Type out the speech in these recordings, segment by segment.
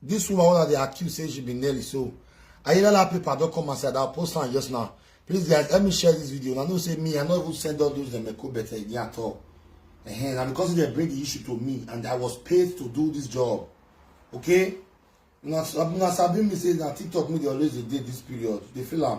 This woman wey una dey accuse say she be Nelly so Ayilala paper don come outside. I'll post am just now. Please guys, let me share this video. Una know say me, I no even send all those dem Eko Bete again at all. Ehen, na because they bring the issue to me and I was paid to do this job. Okay? Una una sabi me say na TikTok me dey always dey dey this period. Dey feel am.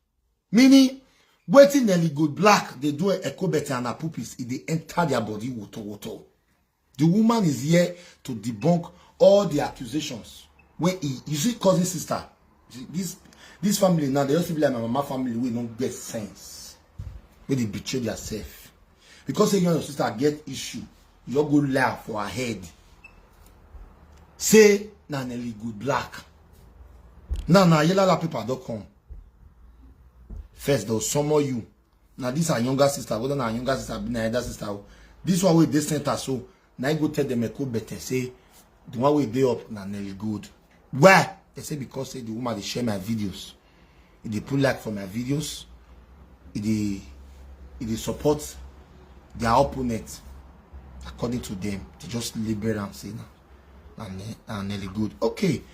meaning wetin nelly go black dey do ekobete and her pupils e dey enter their body woto woto the woman is here to debunk all the accusations wey e you see cousin sister this this family now they just be like my mama family wey no get sense wey dey betray their self because say you and your sister get issue you all go lie for her head say na nelly go black now na yelala paper don come first dem summon you na this her younger sister whether na her younger sister abi na elder sister o this one wey dey center so na im go tell dem eko bete say the one wey dey up na nelly gold why dem say because say the woman dey share my videos e dey put like for my videos e dey e dey support their opponent according to them they just label am say na na nelly gold okay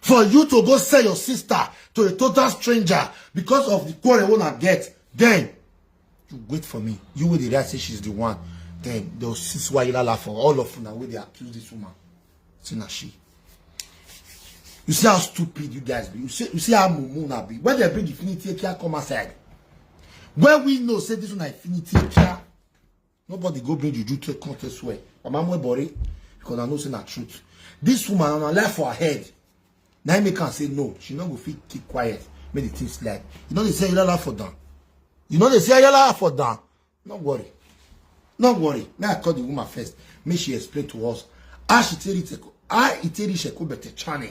for you to go sell your sister to a total stranger because of the quarrel wey una get then you wait for me you wey dey react say she's the one then they will see swayilala for all of una wey dey accuse this woman say na she you see how stupid you guys be you see you see how mumu una be when they bring infinity ekia come outside when we know say this one na infinity ekia nobody go bring juju to come to swear mama mwe bori because i know say na truth this woman on her life for her head na im make am say no she no go fit keep quiet make the thing slide you no dey see ayala for down you no dey see ayala for down no worry no worry make i call the woman first make she explain to us how she take reach how e take reach ekobete channel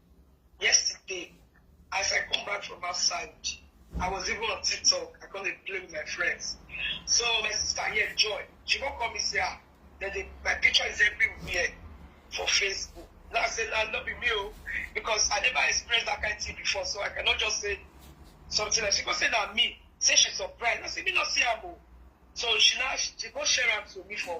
Yesterday, as I come back from outside, I was even on TikTok. I come dey play with my friends. So my sister here, Joy, she come call me say, ah, that they, my picture is everywhere for Facebook. Now I say, nah, not be me, oh, because I never experienced that kind of thing before, so I cannot just say something like she go say na me say she surprised i say me no see am o so she now she go share am to me for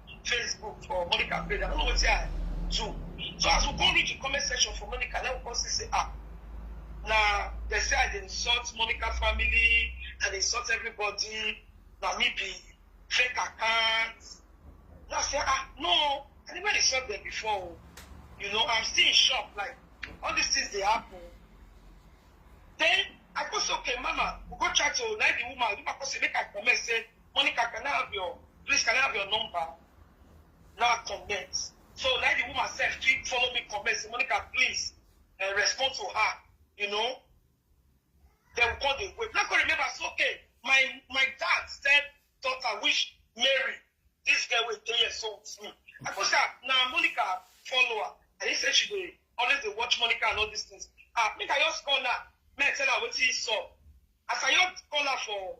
Facebook for Monica page. I don't know what I do. So as we go read the comment section for Monica, now we come see say ah, na they say I dey insult Monica family, I dey insult everybody. Na me be fake account. Now I say ah no, I never insult them before. o. You know, I'm still in shock. Like all these things dey happen. Then I go say okay, mama, we go chat to like the woman. The woman go say make I comment say Monica, can I have your please can I have your number? Now I comment. So now the woman self keep follow me comment. Say, Monica, please uh, respond to her. You know? Then we call the wait. Now I remember, so okay, my my dad said daughter wish Mary, this girl was three years old with me. I go say, now Monica follow her. And he said she dey always dey watch Monica and all these things. Ah, make I just call her. Make I tell her wetin he saw. As I just call her for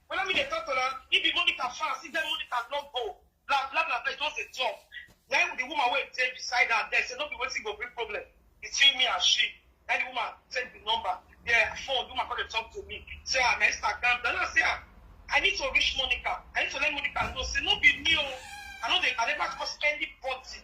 When me dey talk to am, he be Monica fans. He said Monica no go. Blah blah blah. blah. He just dey talk. Then the woman wey dey beside her there say no be wetin go bring problem. It's between me and she. Then the woman send the number. The phone. The woman come dey talk to me. Say ah, na Instagram. Then I say ah, I need to reach Monica. I need to let Monica know. Say no be me oh. I know they. I never cause anybody.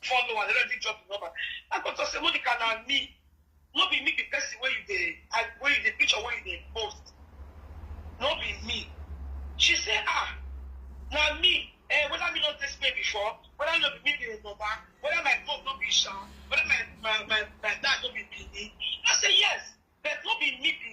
follow and already drop the number. I go talk say Monica na me. No be me be person wey you dey I wey you dey picture wey you dey post. No be me. She say ah na me eh whether me no test me before whether no be me be Yoruba whether my phone no be Sha whether my my my my dad no be Benin. I say yes but no be me be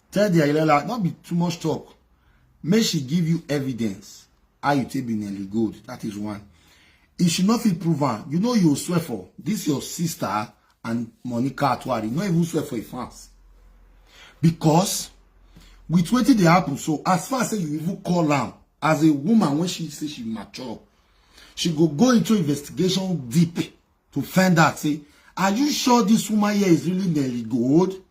Tell the Ayelala, not be too much talk. May she give you evidence. How you take be nearly good. That is one. If she not feel proven, you know you swear for. This your sister and Monica Atwari. You not even swear for a fans. Because with wetin dey happen so as far as say you even call am as a woman when she say she mature she go go into investigation deep to find out say are you sure this woman here is really Nelly Gold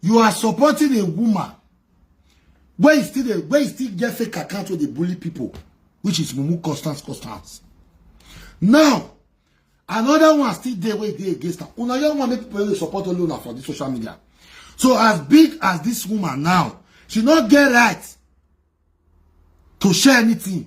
You are supporting a woman where you still dey where you still get fake account wey dey bully people which is mumu constance constance now another one still dey wey dey against am una young one make people dey support only una for this social media so as big as this woman now she no get right to share anything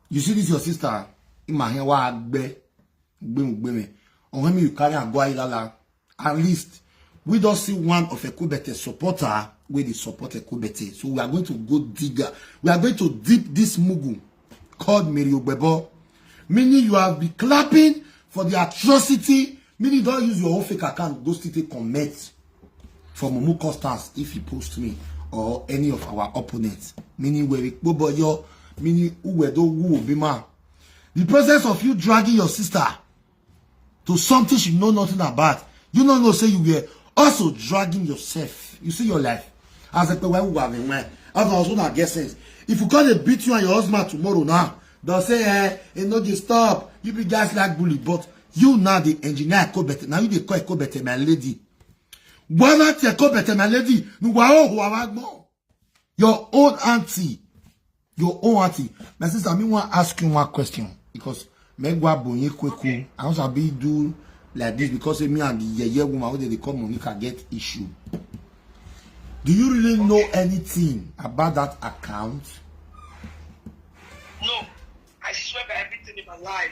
You see this your sister in my hand wa gbe gbe gbe on him you carry and go ilala. At least we don't see one of Ekubete supporter where they support Ekubete. So we are going to go digger. We are going to dip this mugu called Mary Ogbebo. Meaning you have been clapping for the atrocity. Meaning don't use your own fake account. Go still take comment. for mumu costas if he post me or any of our opponents meaning were ikpoboyo meaning uwedo wu obima the presence of you dragging your sister to something she know nothing about you no know say you were also dragging yourself you see your life as a pewa uwa be wen as na also na get sense if you come dey beat you and your husband tomorrow now don say eh e no dey stop you be guys like bully but You now the engineer Ekobete. Now you dey call Ekobete my lady. Whether it's Ekobete my lady. No, wa o ho wa gbon. Your own auntie. Your own auntie. My sister, me want to ask you one question. Because me go bonye kweku. I also be do like this because eh, me and the yeye woman wey dey dey call Monica get issue. Do you really know anything about that account? No, I swear by everything in my life.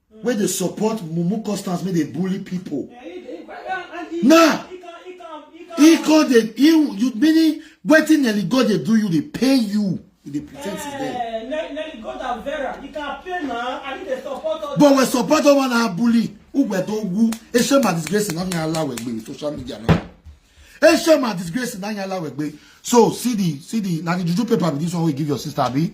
wey dey support mumu constance make dey bully pipo now he call dey you meaning wetin nelly god dey do you dey pay you you dey pretend is there. Eh, nelly god and vera you can pay na and you dey support us. but we support ọmọ na bully ugbe to wu ese ma disgrace na nya ala wegbe with social media now ese ma disgrace na nya ala wegbe so see the see the na the juju paper be this one wey give your sister abi.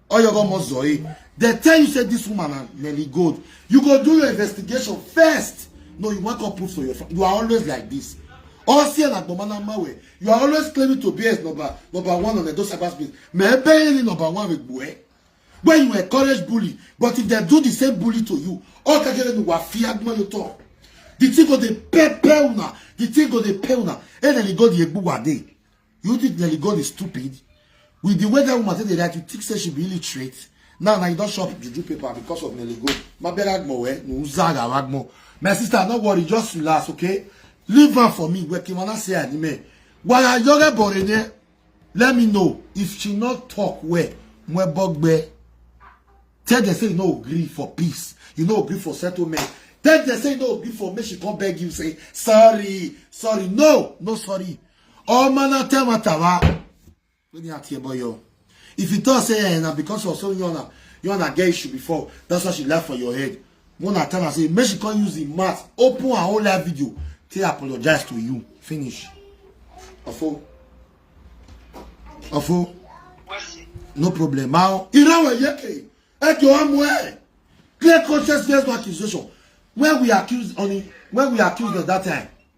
oyogo mozoi they tell you say this woman na nelly gold you go do your investigation first no you wan come put for your you are always like this osi and agbomana mawe you are always claiming to be as number number one on edo cyber space mebe iri number one with bue when you encourage bully but if they do the same bully to you all kakere ni wa fi agbon yo to the thing go dey pepper una the thing go dey pay una eneli go dey egbu wa dey You think Nelly Gold is stupid? With the way that woman said that you think say she be illiterate? Now, now you don't shop juju paper because of Nelly Gold. My bad Agmo, eh? No, Zaga Agmo. My sister, no worry, just relax, okay? Leave her for me. Where Kimana say anime. Why are you a borene? Let me know if she not talk where. Mwe bogbe. Tell them say you no agree for peace. You no agree for settlement. Tell them say you no agree for make she come beg you say sorry, sorry. No, no sorry. Omo na tell matter wa. Let me ask you boy yo. If you talk say eh, na because of something you wanna you wanna get issue before, that's why she left for your head. When I tell her say make she come use the mouth, open her whole live video, say apologize to you. Finish. Ofo. Ofo. No problem. Now, Irawe Yeke, at your own way. Clear conscience based accusation. When we accused on when we accused at that time.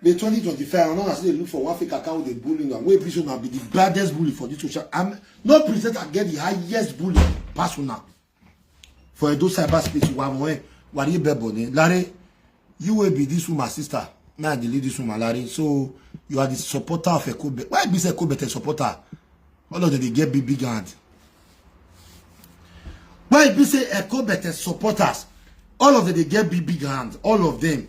May 2025, and I still dey look for one fake account dey bully una wey be say una be the baddest bully for this social. I'm no presenter get the highest bully pass una for Edo cyberspace. Wa mo e, wa ri bebo ni. Lare, you will be this woman sister. Me I dey lead this woman Lare. So you are the supporter of Ekobe. Why be say Ekobe the supporter? All of them dey get big big hand. Why be say Ekobe the supporters? All of them dey get big big hand. All of them.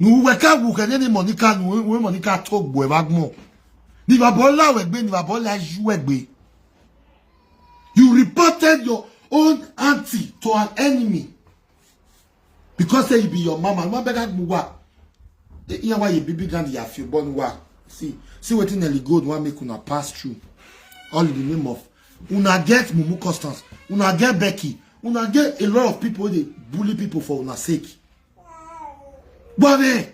nu we ka wu ke ni monica nu we monica to gbo e ba gmo ni baba ola we gbe ni baba ola ju we gbe you reported your own auntie to an enemy because say you be your mama no beg agbo wa iya wa ye bibi gan ya fi born wa see see wetin Nelly Gold wan make una pass through all in the name of una get mumu constance una get becky una get a lot of people wey dey bully people for una sake gbame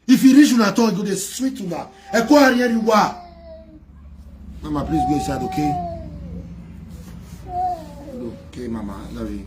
if e reach una turn e go dey sweet una ẹkọ ariẹri wa mama please go inside okay okay mama I love you.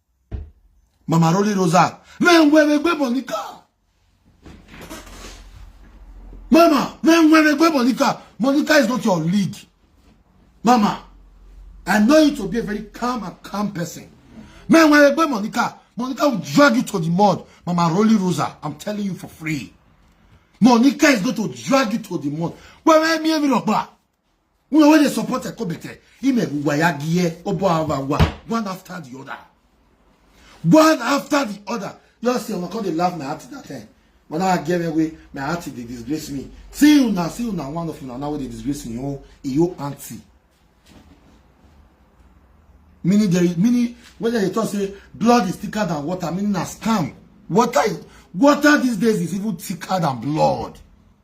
Mama Rolly Rosa. Men where we go Monica. Mama, men where we go Monica. Monica is not your league. Mama, I know you to be a very calm and calm person. Men where we go Monica. Monica will drag you to the mud. Mama Rolly Rosa, I'm telling you for free. Monica is going to drag you to the mud. Where me and me una wey dey support ekobete imegwugwa ya gie obo awagwa one after the other one after the other just say una come dey laugh my heart that time but now i get me wey my heart dey disgrace me see una see una one of una now wey dey disgrace me oh iyo aunty meaning there is meaning when they talk say blood is thicker than water meaning na scam water is water these days is even thicker than blood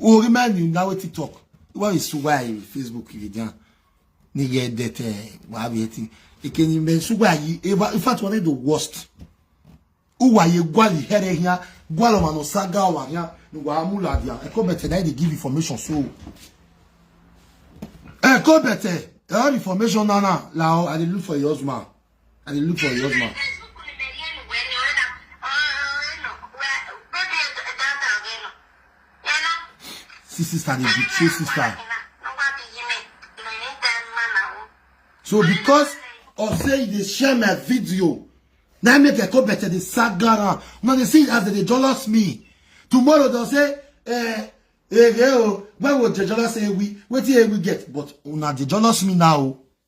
o remind you now wetin talk when you see why in facebook you dey nigga that uh, eh, why be it can you men so why you ever in fact one of the worst who are you gwali here here gwalo mano saga wa here no wa amula dia e come better they give information so e come better all information now now la i dey look for your husband I dey look for your husband. See sister dey betray sister. So because of say you dey share my video, na make I come better dey sagara. Una dey see as they dey jealous me. Tomorrow they'll say, eh, eh, eh, oh, when will they jealous ewi? Wetin ewi get? But una dey jealous me now.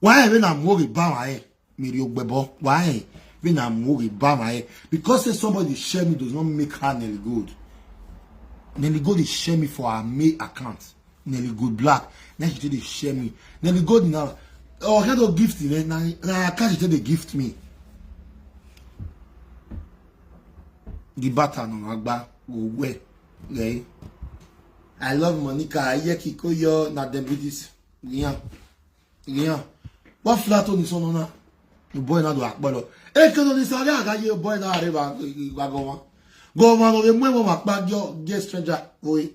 why we na more bawa eh me ri ogbebo why we na more bawa eh because say somebody share me does not make her Nelly Gold Nelly Gold dey share me for her main account Nelly Gold Black na she take dey share me Nelly Gold na oh kind of gift na na na account she take dey gift me the bata na agba owe eh I love Monica ayeki koyo na dem be this Giyan. Giyan. What flat on this one now? The boy not do akpalo. E ke no ni sare aga ye boy na are ba ba go wan. Go wan no be mo mo ma pa yo get stranger boy.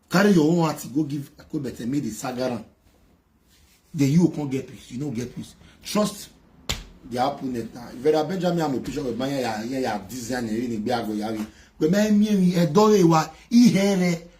Carry your own heart go give go better me the sagaran. Then you can't get peace. You don't get peace. Trust the opponent now. Vera Benjamin I'm a picture of my ya ya ya design ni gbe ago ya wi. Gbe me mi mi e dore wa ihere.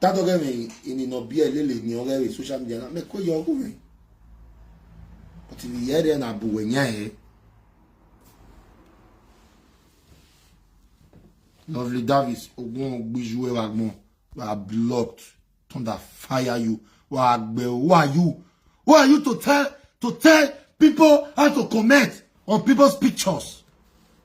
Tato ke me ini no bie lele ni ore we social media na me ko yo ko me. But if you hear na bu we nya he. Lovely Davis ogun ogbiju e wa gbon. You are blocked. Thunder fire you. Who are you? Who are you to tell to tell people how to comment on people's pictures?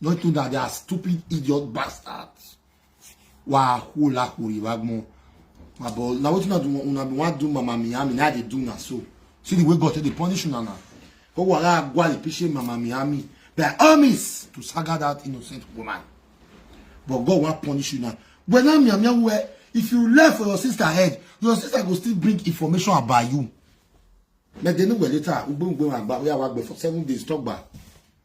Not to that they are stupid idiot bastards. Wa hula huri wagmo. Abo na wetin una do una be wan do mama Miami na dey do na so. See the way God take dey punish una na. Ko wa la gwa le piche mama Miami. They are armies to saga that innocent woman. But God wan punish you now. When I'm Miami where if you left for your sister head, your sister go still bring information about you. But they know where later, we go and back, we are for seven days, talk back.